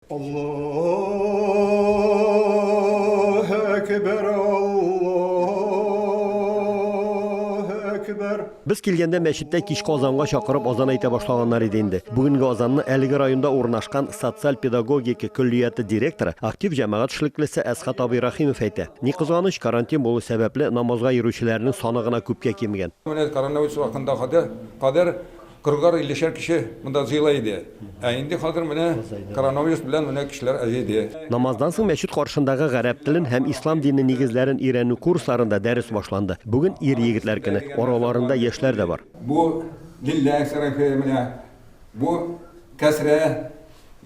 Аллаһ әкбәр Аллаһ әкбәр. Без килгәндә мәчеттә кичке азанга чакырып азан әйтә башлаганнар иде инде. Бүгенге азанны әлеге районда урнашкан социаль педагогика көллияте директоры, актив җәмәгать эшлеклесе Әсхат абый Рахимов әйтә. Ни кызганыч, карантин булу сәбәпле, намазга йөрүчеләрнең саны гына күпкә кимегән. Менә коронавирус вакытындагы кадәр Кыргар иллешәр кеше монда җыела иде, ә инде хәзер менә коронавирус белән менә кешеләр азиде. Намаздан соң мәчет каршындагы гарәп телен һәм ислам дине нигезләрен өйрәнү курсларында дәрес башланды. Бүген ир-егетләр көне, араларында яшьләр дә бар. Бу, Лилләһ шәрефе, менә бу, Кәсрә.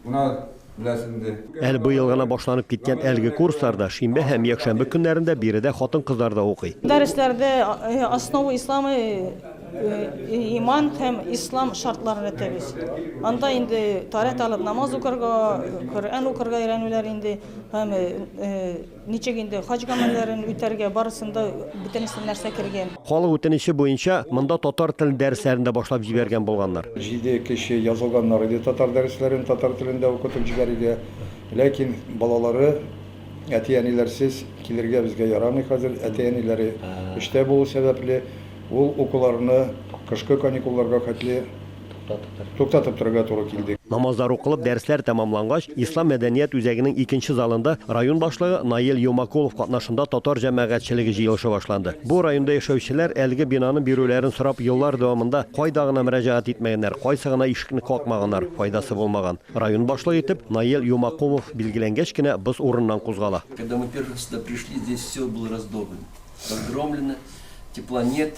Менә беләсез инде. Әле быел гына башланып киткән әлеге курсларда шимбә һәм якшәмбе көннәрендә биредә хатын-кызлар да укый. Дәресләрдә Основы ислама, иман һәм ислам шартларын әйтәбез. Анда инде тарәт алып намаз укырга, Коръән укырга өйрәнүләр инде һәм Ничек инде хаҗ гамәлләрен үтәргә, барысында бөтенесе нәрсә кергән. Халык үтенече буенча, монда татар телен дәресләрен дә башлап җибәргән булганнар. Җиде кеше язылганнар иде татар дәресләрен татар телендә укытып җибәрергә, ләкин балалары әти-әниләрсез килергә безгә ярамый хәзер, әти-әниләре эштә булу сәбәпле, ул укуларны кышкы каникулларга хәтле Туктатып торырга туры килде. Намазлар укылып, дәресләр тәмамлангач, Ислам мәдәният үзәгенең икенче залында район башлыгы Наил Юмакулов катнашында татар җәмәгатьчелеге җыелышы башланды. Бу районда яшәүчеләр әлеге бинаны бирүләрен сорап еллар дәвамында кайда гына мөрәҗәгать итмәгәннәр, кайсы гына ишекне какмаганнар, файдасы булмаган. Район башлыгы итеп Наил Юмакулов билгеләнгәч кенә боз урыныннан кузгала. Когда мы первый раз сюда пришли, здесь все было раздолбано, разгромлено, тепла нет,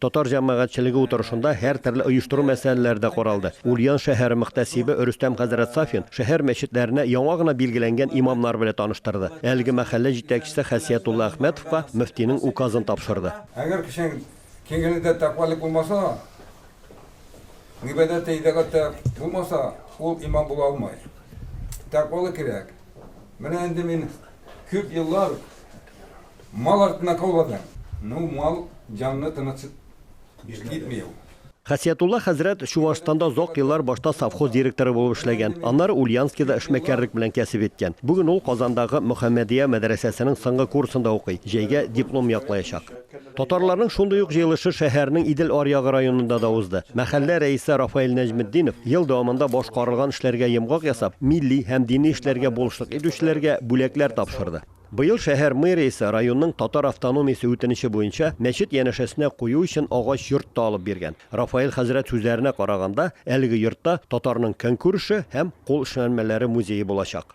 Татар җәмәгатьчелеге утырышында һәртөрле оештыру мәсьәләләре дә каралды. Ульян шәһәре мөхтәсибе Рөстәм хәзрәт Сафин шәһәр мәчетләренә яңа гына билгеләнгән имамнар белән таныштырды. Әлеге мәхәллә җитәкчесе Хәсиятулла Әхмәтовка мөфтинең указын тапшырды. Әгәр кешенең киңелендә тәкъвалык булмаса, гыйбадәттә, итагатьтә булмаса, ул имам була алмый. Тәкъвалык кирәк. Менә инде мин күп еллар Мал артына каулады. Ну, мал җанны тыныч итми ул. Хәсиятулла хәзрәт Чуашстанда озак еллар башта совхоз директоры булып эшләгән, аннары Ульяновскида эшмәкәрлек белән кәсеп иткән. Бүген ул Казандагы Мөхәммәдия мәдрәсәсенең соңгы курсында укый, җәйгә диплом яклаячак. Татарларның шундый ук җыелышы шәһәрнең Идел аръягы районында да узды. Мәхәллә рәисе Рафаэль Нәҗметдинов ел дәвамында башкарылган эшләргә йомгак ясап, милли һәм дини эшләргә булышлык итүчеләргә бүләкләр тапшырды. Быел шәһәр мэриясе районның татар автономиясе үтенече буенча мәчет янәшәсенә кую өчен агач йорт та алып биргән. Рафаэль хәзрәт сүзләренә караганда, әлеге йортта татарның көнкүреше һәм кул эшләнмәләре музее булачак.